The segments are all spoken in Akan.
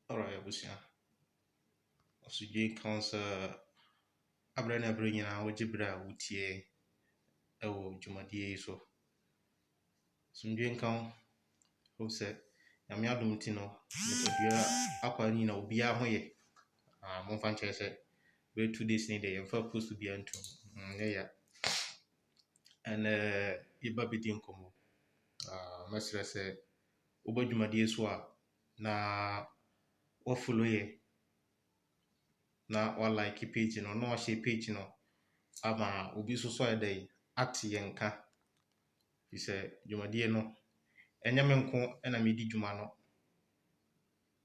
Alright abusua, ɔsodie nka wo sɛ aberɛ ne aberɛ nyinaa wogye berɛ a wotie wɔ dwumadie yi so. Asomdwoe nka wo, wohu sɛ Nyame adom nti no nipadua akwaa no nyinaa obiara ho yɛ. Ah momfa nkyerɛ sɛ bɛyɛ two days ni deɛ yɛmfaa post biara nto mu, ɛnyɛ ya. Ɛnnɛ yɛba abɛdi nkɔmmɔ. Mɛsrɛ sɛ woba dwumadie so a na wa follow yɛ na wa like page no na wa share page no ama obi nso so ayɛ dɛn ate yɛn nka. Firi sɛ dwumadie no ɛnyɛ me nko na medi dwuma no.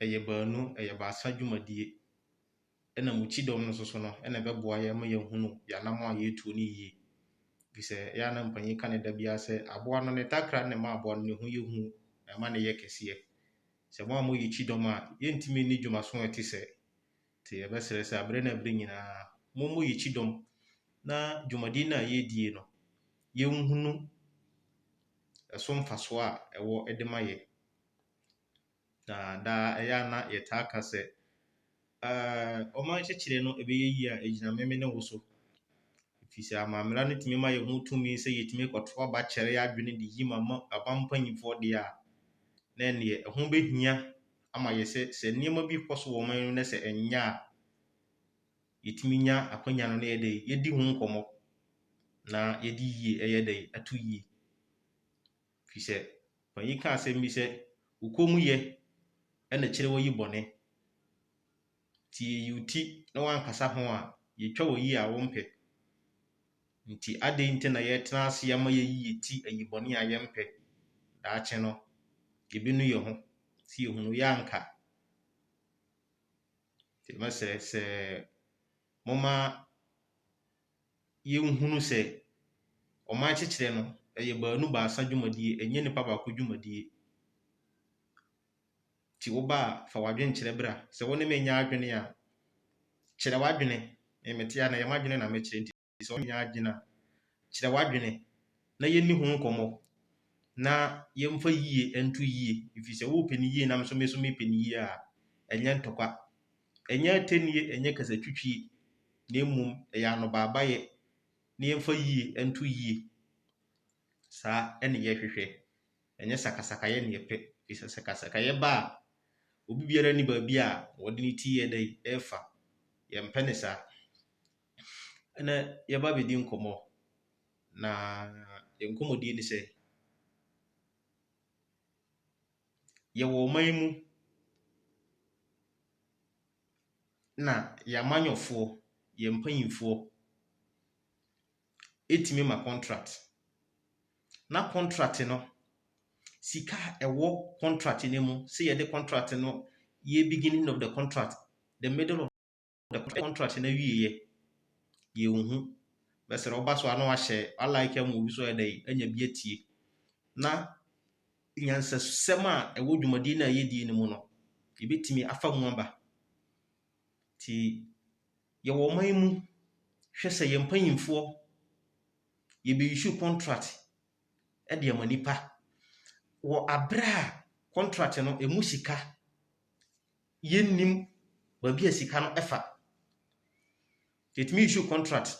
ɛyɛ baanu, ɛyɛ baasa dwumadie ɛna mo kyidɔm no soso no ɛna ɛbɛboa yɛn ma yɛahunu yɛn anammɔn a yɛretuo no yie. Ɛfiri sɛ ɛyɛ a na mpanin ka no da biara sɛ, aboa no ne takra na ɛma aboa no ne ho yɛ hu na ɛma no yɛ kɛseɛ. Sɛ mo a moyɛ kyidɔm a, yɛntumi nni dwumaso a ɛte sɛɛ. Nti yɛbɛsrɛ sɛ aberɛ ne aberɛ nyinaa mommɔ yɛn kyidɔm na dwumadie no a yɛredie no yɛnhunu ɛso mfasoɔ a ɛwɔ de ma yɛn. Na daa ɛyɛ a na yɛtaa ka sɛ, Ɛɛ, ɔman nkyɛkyerɛ no ɛbɛyɛ yie a, ɛgyina me, me ne wo so. Ɛfiri sɛ, amammara no tumi ma yɛho tumi sɛ yɛtumi kɔto aba kyɛre yɛn adwene de yi ma aba mpanimfoɔ deɛ a, na ɛnneɛ ɛho bɛhia ama yɛ sɛ, sɛ nneɛma bi rekɔ so wɔ ɔman mu na sɛ ɛnyɛ a, yɛtumi nya akwanya no na yɛyɛ dɛ, yɛdi ho nkɔmmɔ na yɛde yie ɛyɛ dɛ, ato yie. Efisɛ ɔpanyin yi kaa asɛm bi sɛ, Wo kommyɛ na ɛkyerɛ woayi bɔne. Nti yi wo ti na woankasa ho a, yetwa wo yiye a wompɛ. Nti adɛn nti na yɛtena ase ama yɛayi yɛn ti ayi bɔne a yɛmpɛ? Daakye no, yebenu yɛn ho sɛ yehunu yɛ anka. Nti mɛsrɛ sɛ momma yɛnhunu sɛ ɔman kyekyerɛ no ɛyɛ baanu baasa dwumadie ɛnyɛ nipa baako dwumadie nti wo ba a fa w'adwene kyerɛ bra sɛ wo ne me nyɛ adwene a kyerɛ w'adwene me mete a na ɛyɛ m'adwene na mekyerɛ nti sɛ wo ne me nyɛ adwene a kyerɛ w'adwene na yɛnni ho nkɔmmɔ na yɛmfa yie nto yie ɛfiri sɛ wopɛ no yie na me nso mepɛ no yie a ɛnyɛ ntɔkwa Ɛnyɛ atennie, ɛnyɛ kasatwitwie, na mmom ɛyɛ anobaabayɛ na yɛmfa yie nto yie. Saa na yɛhwehwɛ, ɛnyɛ sakasakayɛ na yɛpɛ. Ɛfiri sɛ sakasakayɛ ba a, obi biara nni baabi a ɔde ne ti yɛ dɛn, ɛrefa. Yɛmpɛ no saa. Ɛnnɛ yɛaba abɛdi nkɔmmɔ, na yɛn nkɔmmɔdie ne sɛ, yɛwɔ ɔman yi mu na yɛn amanyɔfoɔ, yɛn mpanimfoɔ tumi ma contract. Na contract no, sika a ɛwɔ contract no mu sɛ yɛde contract no yɛ beginning of the contract, the middle of . the contract na wie yɛ yɛn ho bɛsrɛ ɔba so ano ahyɛ alike ama obi so ɛdɛ anya bi atie na nyansasɛm a ɛwɔ dwumadie no a yɛdie no mu no yɛbɛtumi afa mu aba nti yɛwɔ ɔman mu hwɛ sɛ yɛn mpanyinfoɔ yɛbɛyisu contract ɛde ama nipa wɔ abere a contract no ɛmu sika yɛnnim baabi a sika no fa. Yɛtumi issue contract.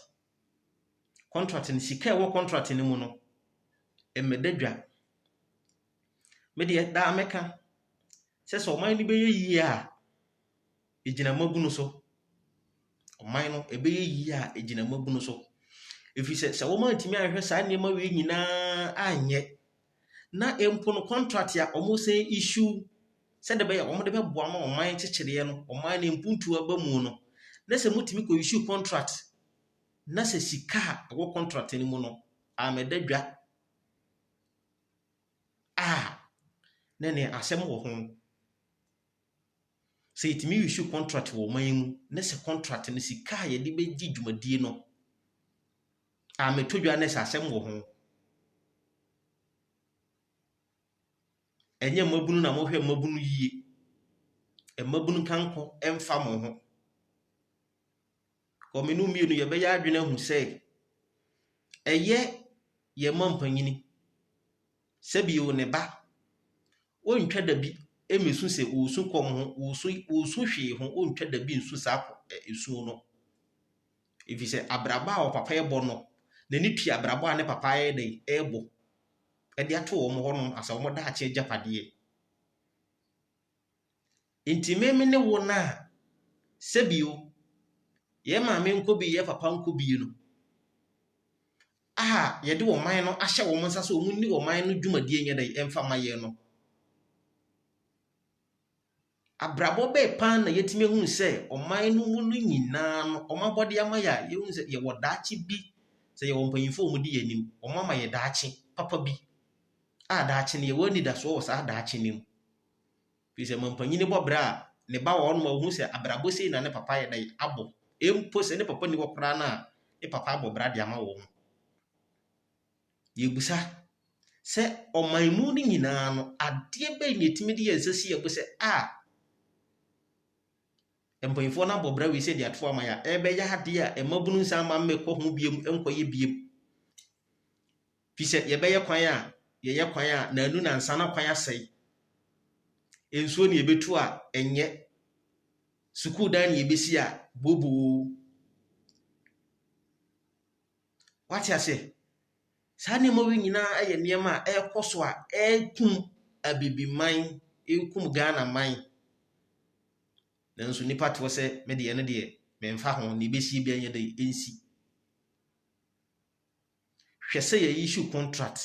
Contract no, sika a ɛwɔ contract no mu no, mmɛda dwa. Me deɛ, daa mɛka sɛ sɛ ɔman no bɛyɛ yie a, ɛgyina mmabunu so. Ɔman no, ɛbɛyɛ yie a, ɛgyina mmabunu so. Ɛfiri sɛ, sɛ wɔantumi anhwɛ saa nneɛma wei nyinaa anyɛ na mpo no contract a wɔsan issue sɛdeɛ ɛbɛyɛ a wɔde bɛboa ma ɔman nkyekyereɛ no, ɔman no mpuntuo aba mu no, na sɛ motumi kɔ issue contract na sɛ sika a ɛwɔ contract no mu no ammɛda dwa a, na ɛneɛ asɛm wɔ ho. Sɛ yɛtumi issue contract wɔ ɔman mu na sɛ contract no sika a yɛde bɛdi dwumadie no, Ah meto dwa nurse asɛm wɔ ho. Ɛnyɛ mmabunu na mohwɛ mmabunu yie. Mmabunu nka nko mfa mo ho. Wɔ me ne wo mmienu yɛbɛyɛ adwene ahu sɛ ɛyɛ yɛn ma mpanyini sɛ bio ne ba ɔntwa da bi mmesu sɛ ɔresu kɔm ho, ɔresu ɔresu hwee ho, ɔntwa da bi nsu saa kɔ ɛ esuo no. Efisɛ abrabɔ a ɔpapa yɛ bɔ no, n'ani tua abrabɔ a ne papa ayɛ dɛ rebɔ de ato wɔn hɔ no asɛ wɔn daakye agyapadeɛ. Nti me me ne wo no a, sɛbio, yɛn maame nkɔ bi, yɛn papa nkɔ bi no, a yɛde wɔn man no ahyɛ wɔn nsa sɛ wɔn ni wɔn man no dwumadie nyɛ dɛ mfa ma yɛn no, Abrabɔ bɛn paa na yɛatumi ahunu sɛ ɔman no mu no nyinaa no, wɔn abɔde ama yɛn a yɛhu sɛ yɛwɔ daakye bi, sɛ yɛwɔ mpanyimfo a wɔdi yɛn anim, wɔama yɛn daakye papa bi a daakye no yɛwɔ anidasoɔ wɔ saa daakye no mu. Ɛfiri sɛ mampanyin bɔ bra a, ne ba wɔ hɔnom a ɔhu sɛ abrabɔ sei na ne papa ayɛ dɛn abɔ. Mpo sɛ ne papa nni hɔ koraa no a, ne papa abɔ bra de ama wɔn. Yɛbisa sɛ ɔman mu no nyinaa no adeɛ bɛn na ɛtumi de yɛn nsa si yɛn bo sɛ a mpanyinfoɔ no abɔ bra wei sɛ de ato ama yɛn a ɛbɛyɛ adeɛ a mmabunu nsa ama mmɛkɔ ho biom nkɔyɛ biom fi sɛ yɛbɛyɛ kwan a yɛyɛ kwan a na anu na nsa na kwan asɛe nsuo ne yɛbɛtu a ɛnyɛ sukuu dan ne yɛbɛsi a booboo Wate aseɛ? Saa nneɛma wei nyinaa yɛ nneɛma a ɛrekɔ so a ɛrekum Abibiman, ɛrekum Ghanaman. Nanso nnipa te hɔ sɛ me deɛ ɛno deɛ memfa ho, deɛ ɛbɛsi biara ɛnyɛ dɛ ɛnsi. Hwɛ sɛ yɛyi su contract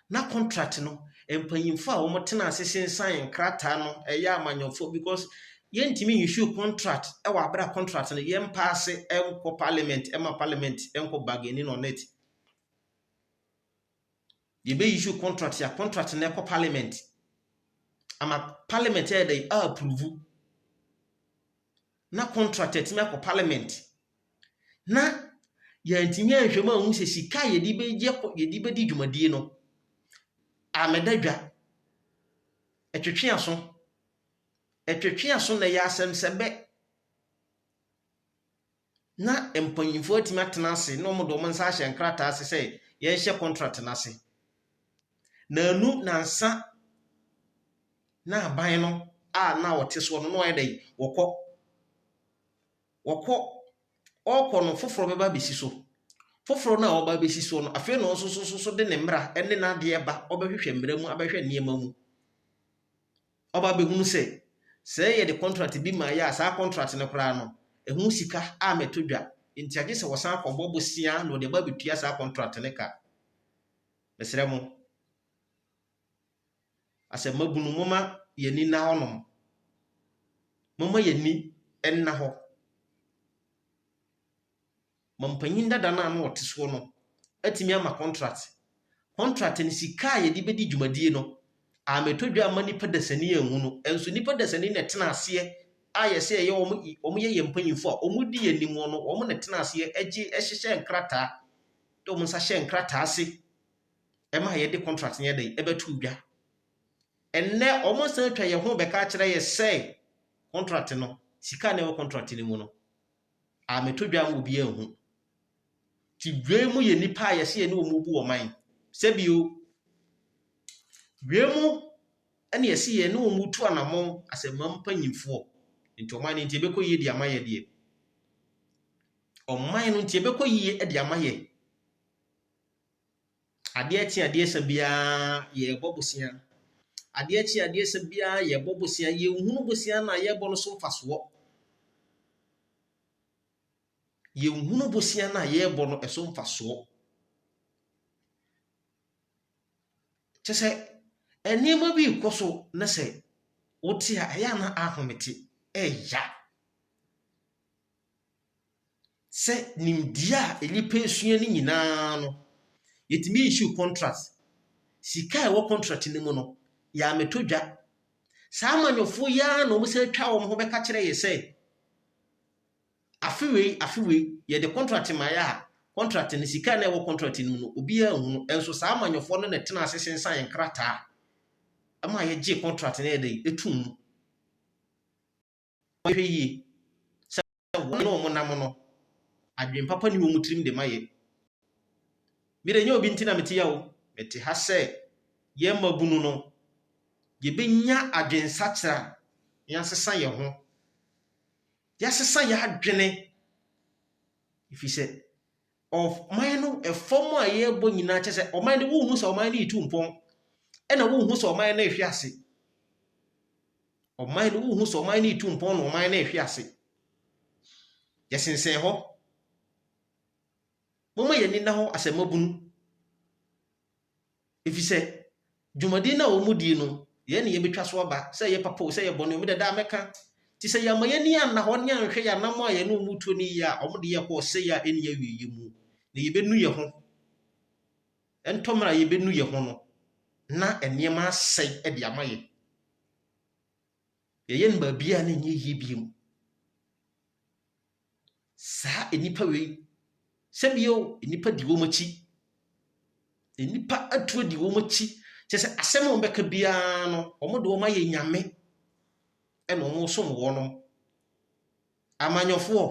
na contract no mpanyimfo a wɔn tena ase sensan nkrataa no ɛyɛ amanyɔfoɔ because yɛn ntumi issue contract ɛwɔ abere a contract no yɛn paase ɛnkɔ parliament ɛma parliament ɛnkɔ bargaining on it yɛbɛ issue contract ya contract no ɛkɔ parliament ama parliament ɛyɛ dɛ approve na contract atumi akɔ parliament na yɛantumi anhwɛ mu anhu sɛ sika a yɛde bɛyɛ yɛde bɛdi dwumadie no amɛda dwa ɛtwetwe aso ɛtwetwe aso na ɛyɛ asɛm sɛ bɛ na mpanyinfoɔ atumi atena ase na wɔn de wɔn nsa ahyɛ nkrataa ase sɛ yɛnhyɛ contract no ase na ɛnu nansa na aban no a na wɔte soɔ no na wɔyɛ dɛn? Wɔkɔ. Wɔkɔ. Wɔrekɔ no, foforɔ bɛba abɛsi so. Foforɔ no a ɔba abɛsi soɔ no, afei na ɔno nso so so de ne mmara ne n'adeɛ ba, ɔbɛhwehwɛ mmara mu, abɛhwɛ nneɛma mu. Ɔba abɛhunu sɛ, sɛ yɛde contract bi ma yɛ a, saa contract no koraa no, ɛho sika a mɛtɔ dwa. Nti agye sɛ wɔsan akɔbɔ bosea na wɔde aba abɛtua saa contract no ka. Mesrɛ mo. Asɛmmabunu, momma yɛn ani nna hɔnom. Momma yɛn ani nna hɔ. Ma mpanyin dada no a na ɔte soɔ no atumi ama contract. Contract no, sika a yɛde bɛdi dwumadie no, ammɛtɔ dwa amma nipa dasani anhu no. Nso nipa dasani na ɛtena aseɛ a yɛsɛ ɛyɛ wɔn, wɔn yɛ yɛn mpanyinfoɔ a wɔn di yɛn anim no, wɔn na ɛtena aseɛ ɛgye ɛhyehyɛ nkrataa, de wɔn nsa hyɛ nkrataa ase. ɛma yɛde contract no yɛ dɛn ɛbɛto dwa ɛnɛ wɔn san atwa yɛn ho bɛka akyerɛ yɛ sɛ contract no sika na ɛwɔ contract no mu no ameto dwa mu obi anhu ti dwa mu yɛ nipa a yɛsɛ yɛ ne wɔn bu wɔn man sɛbio dwa mu ɛna yɛsɛ yɛ ne wɔn tu anamɔn asɛmma mpanyinfoɔ nti ɔman no nti ɛbɛkɔ yie de ama yɛ deɛ ɔman no nti ɛbɛkɔ yie de ama yɛ. Adeɛ kye adeɛ sa biara yɛrebɔ bosea. Adeɛ kye adeɛ sa biara yɛrebɔ bosea. Yɛnhunu bosea no a yɛrebɔ no so mfasoɔ. Yɛnhunu bosea no a yɛrebɔ no so mfasoɔ. Kyɛ sɛ nneɛma bi rekɔ so na sɛ wote a, ɛyɛ a na ahome te. Ɛya. sɛ nimdeɛ a nnipa sua no nyinaa no, yɛtumi issue contract. Sika a ɛwɔ contract no mu no, yɛammɛtɔ dwa. Saa amanyɔfo yi ara na wɔsan twa wɔn ho bɛka kyerɛ yɛn sɛ, afe wei afe wei, yɛde contract maeɛ a, contract no, sika a na ɛwɔ contract no mu no, obiara nhunu. Nso saa amanyɔfoɔ no na ɛtena ase sensan yɛn krataa ma yɛgye contract no yɛ dɛn, ɛtoo mu. wɔhwɛ yie sɛ wɔn a wɔnam no, adwene papa ne wɔn tirim de ma yɛ. Me de, ɛnyɛ obi nti na mete ya o, mete ha sɛ yɛn mmabunu no, yɛbɛnya adwensakyera na yɛasesa yɛn ho, yɛasesa yɛn adwene, ɛfiri sɛ Ɔman no fam a yɛrebɔ nyinaa kyɛ sɛ ɔman no wohu sɛ ɔman no retu mpɔn ɛna wohu sɛ ɔman no rehwe ase ɔman no wohu sɛ ɔman no retu mpɔn na ɔman no rehwe ase yɛsensɛn hɔ moma yɛn ani na hɔ asɛmabunu Efisɛ dwumadi no a wɔdii no, yɛn na yebetwa so aba, sɛ ɛyɛ papa o, sɛ ɛyɛ bɔne o, me de daa mɛka. Enti sɛ yɛamma yɛn ani anna hɔ ne anhwɛ yɛn anammɔn a yɛne wɔn retu no yiye a, wɔde yɛn kɔ ɔsɛe a enni awiei mu, na yebenu yɛn ho. Ɛntɔ mmere a yebenu yɛn ho no, na nneɛma asɛe de ama yɛn. Yɛyɛ no baabiara na ɛnyɛ yiye bio. Saa nnipa wei, sɛbio nnipa di wɔn akyi. Nnipa atu adi wɔn akyi. Kyɛ sɛ asɛm a wɔbɛka biara no, wɔde wɔn ayɛ nyame ɛna wɔsom wɔn. Amanyɔfoɔ,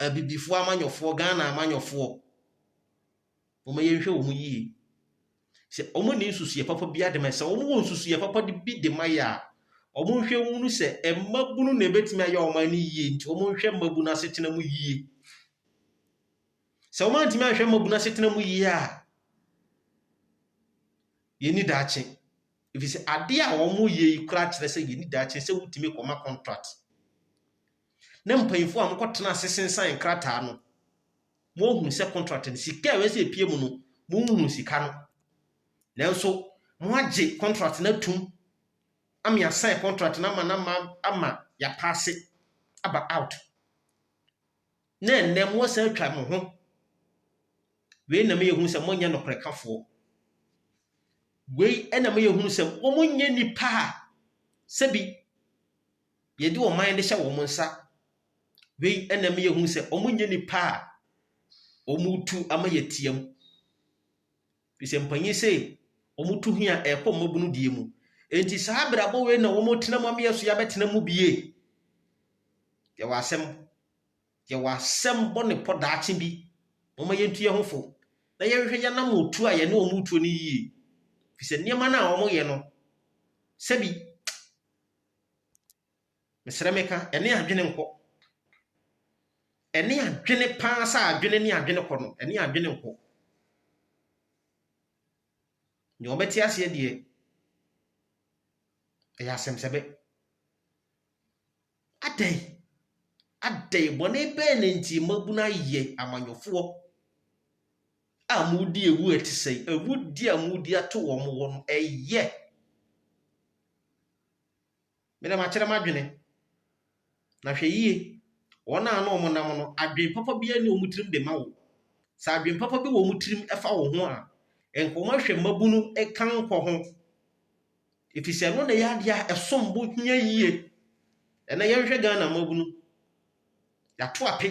abibifoɔ amanyɔfoɔ, Ghana amanyɔfoɔ. Momma yɛnhwɛ wɔn yie. Sɛ wɔn nni nsusuiɛ papa biara de ma yɛ, sɛ wɔn wɔ nsusuiɛ papa de bi de ma yɛ a, wɔn nhwɛ hunu sɛ mmabunu na ebetumi ayɛ wɔn ani yie nti wɔn nhwɛ mmabunu asetena mu yie. Sɛ wɔn antumi anhwɛ mmabunu asetena mu yie a, yɛnni daakye. Efi sɛ adeɛ a wɔn yɛ yi koraa kyerɛ sɛ yɛnni daakye sɛ wotumi kɔma contract. Na mpanyinfoɔ a wɔkɔtena ase sensan nkrataa no. moahunu sɛ contract no sika a ɛwɛ sɛ epie mu no monhunu sika no nanso moagye contract no atum ama yɛasan contract no ama no ama ama yɛapaase aba out na ɛnnɛ moasan atwa mo ho wei na meyɛ hunu sɛ monyɛ nokorɛ kafoɔ wei na meyɛ hunu sɛ wɔnyɛ nipa a sɛbi yɛde wɔn man de hyɛ wɔn nsa Wei na ɛma yɛhu sɛ wɔnyɛ nnipa a wɔretu ama yɛatia mu. Ɛfiri sɛ mpanyin sei, wɔtu he a, ɛrekɔ mmabunu deɛ mu. Enti saa abrabɔ wei na wɔtena mu ama yɛ so yɛabɛtena mu bie. Yɛwɔ asɛm. Yɛwɔ asɛm bɔ ne pɔ daakye bi. Wɔma yɛntu yɛn ho fo. Na yɛhwehwɛ yɛnam otu a yɛne wɔn tuo no yie. Ɛfiri sɛ nneɛma no a wɔyɛ no, sɛbi Mesrɛ meka, ɛne adwene nkɔ. Ɛne adwene paa sɛ adwene ne adwene kɔ no, ɛne adwene nkɔ. Nea ɔbɛte aseɛ deɛ, ɛyɛ asɛmsɛbɛ. Adɛn? Adɛn bɔne bɛɛ na nti mmabunu ayɛ amanyɔfoɔ a modi awu a ɛte sɛ awudi a modi ato wɔn wɔ no ɛyɛ Me na makyerɛ m'adwene, na hwɛ yie, wɔn a na wɔnam no, adwene papa biara nni wɔn tirim de ma wo. Sɛ adwene papa bi wɔ wɔn tirim fa wo ho a, nka wɔahwɛ mmabunu kankɔ ho, ɛfiri sɛ ɛno na ɛyɛ adeɛ a ɛsom bo hia yie. Ɛnɛ yɛnhwɛ Ghana mmabunu, yɛato ape.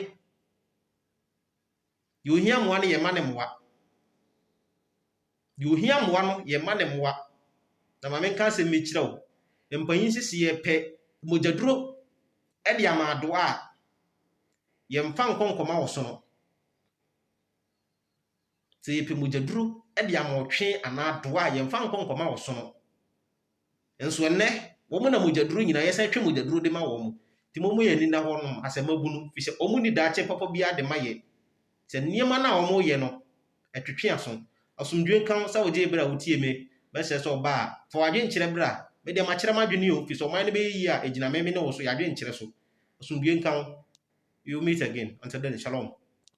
Deɛ ohia mmoa no, yɛma no mmoa. Deɛ ohia mmoa no, yɛma no mmoa. Na ma menka asɛm bi nkyerɛ wo. Mpanyin sɛ sɛ yɛpɛ mogyaduro de ama adoa a, yɛmfa nkɔ nkɔma ɔsono. Sɛ yɛpɛ mogyaduro de ama ɔtwe anaa adoa a, yɛmfa nkɔ nkɔma ɔsono. Nso ɛnnɛ, wɔn na mogyaduro nyinaa, yɛsan twe mogyaduro de ma wɔn. Nti momma yɛn ani nna hɔnom asɛmmabunu, ɛfiri sɛ wɔnni daakye papa biara de ma yɛn. Sɛ nneɛma no a wɔyɛ no, ɛtwetwe aso. Asomdwoe nka wo sɛ wogyee bere a wotiee me. Mɛsrɛ sɛ ɔba a, fa w'adwene kyerɛ bere a. Me deɛ, makyerɛ m'adwene o, ɛfiri sɛ ɔman no bɛyɛ yie a, ɛgyina me, me ne wo so, yɛn adwene nkyere so. Asomdwoe nka wo. We will meet again. Until then, shalom.